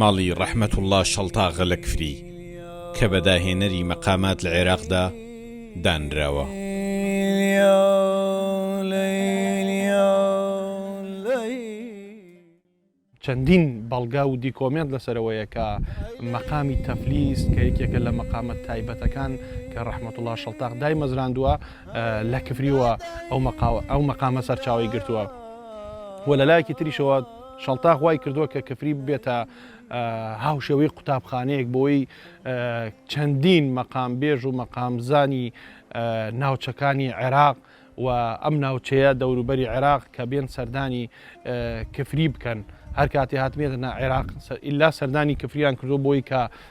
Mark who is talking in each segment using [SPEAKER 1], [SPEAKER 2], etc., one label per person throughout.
[SPEAKER 1] ماڵی ڕەحمەتوڵڵا شەڵتاغە لە کفری، کە بە داهێنەری مەقامات لە عێراقدا دانراوە.
[SPEAKER 2] چەندین بەڵگە و دیکۆمێنت لەسەرەوەیە کە مەقامی تەفلیس کە یەکێکە لە مەقامە تایبەتەکان کە ڕەحمەتوڵا شەڵتاق دای مەزراندووە لە کفریوە ئەو مەقاوە ئەو مەقامە سەرچاوی گرتووە و لە لایەکی تریشەوە شەڵتاخ وای کردووە کە کفری ببێتە هاوشێوەی قوتابخانەیەک بۆی چەندین مەقام بێژ و مەقامزانی ناوچەکانی عێراق و ئەم ناوچەیە دەوروبەری عێراق کە بێن سەردانی کفری بکەن هەر کاتی هاتمێتە نا عێراق ئللا سەردانی کفریان کردو بۆی کە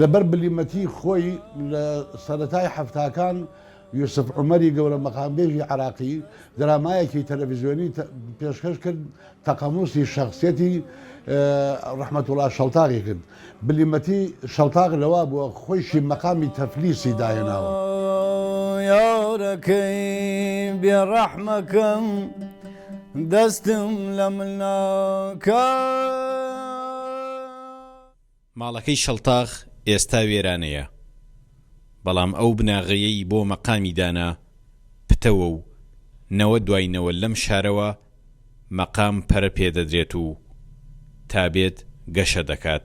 [SPEAKER 3] لەبەر بلیمەتی خۆی لە سەرەتای حەفتاکان یوسف عومەری گەورە مەقامبێژی عراقی درامایەکی تەلەڤزیۆنی پێشکەش کرد تەقەموسی شخصیەتی ڕحمەتوڵا شەڵتاقی کرد بلیمەتی شەڵتاق لەوا بووە خۆیشی مەقامی تەفلیسی داهێناوە یارەکەی
[SPEAKER 4] بێڕەحمەکەم دەستم لە ملناکە
[SPEAKER 1] ماڵەکەی شەڵتاغ ئێستا وێرانەیە، بەڵام ئەو بناغەیەی بۆ مەقامی دانا، پتەوە و نەوە دوای نەوە لەم شارەوە مەقام پەرە پێ دەدرێت و تا بێت گەشە دەکات.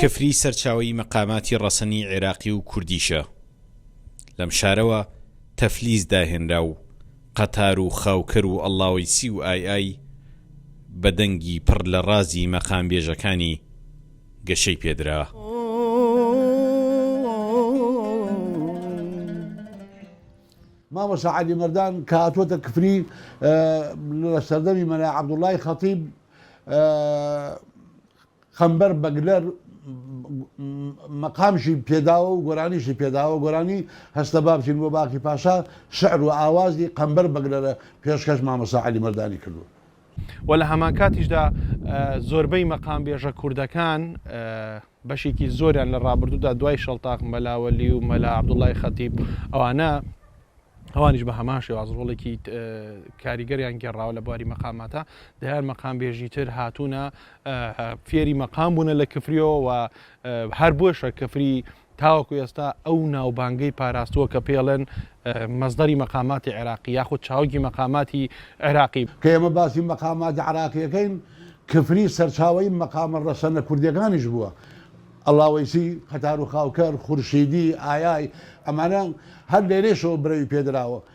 [SPEAKER 1] کفری سەرچاوەی مەقاماتی ڕەسەنی عێراقی و کوردیشە. لەم شارەوە تەفلیس داهێنرا و قەتار و خاوکەر و ئەڵڵاوەیسی و ئای ئای بە دەنگی پڕ لە ڕازی مەقامبێژەکانی گەشەی پێ درا.
[SPEAKER 3] مامۆستا عەلی مەردان کە هاتووەتە کفری لە سەردەمی مەلا عەبدوڵڵای خەتیب قەمبەر بەگلەر مەقامشی پێداوە و گۆرانیشی پێداوە گۆرانی هەستە بابچین بۆ باقی پاشا شعر و ئاوازی قەمبەر بەگلەرە پێشکەش مامۆستا عەلی مەردانی کردووە و لە
[SPEAKER 2] هەمانکاتیشدا زۆربەی مەقامبێژە کوردەکان بەشێکی زۆریان لە ڕابردوودا دوای شەڵتاق مەلاوەلی و مەلا عبدوڵای خەتیب ئەوانە ئەوانیش بە هەمان شێواز ڕۆڵێکی کاریگەریان گێڕاوە لە بواری مەقاماتە دەیان مەقام بێژی تر هاتوونە فێری مەقام بوونە لە کفریەوە و هەر بۆشە کفری تاوەکو ئێستا ئەو ناوبانگەی پاراستووە کە پێڵێن مەسدەری مەقاماتی عێراقی یاخود چاوگی مەقاماتی عێراقی. کە ئێمە باسی
[SPEAKER 3] مەقاماتی عێراقی ئەکەین، کفری سەرچاوەی مەقامە ڕەسەنە کوردیەکانیش بووە، ئەڵاوەیسی، قەتارو خاوکەر، خورشیدی، ئایای، ئەمانە هەر لێرەیشەوە برەوی پێدراوە.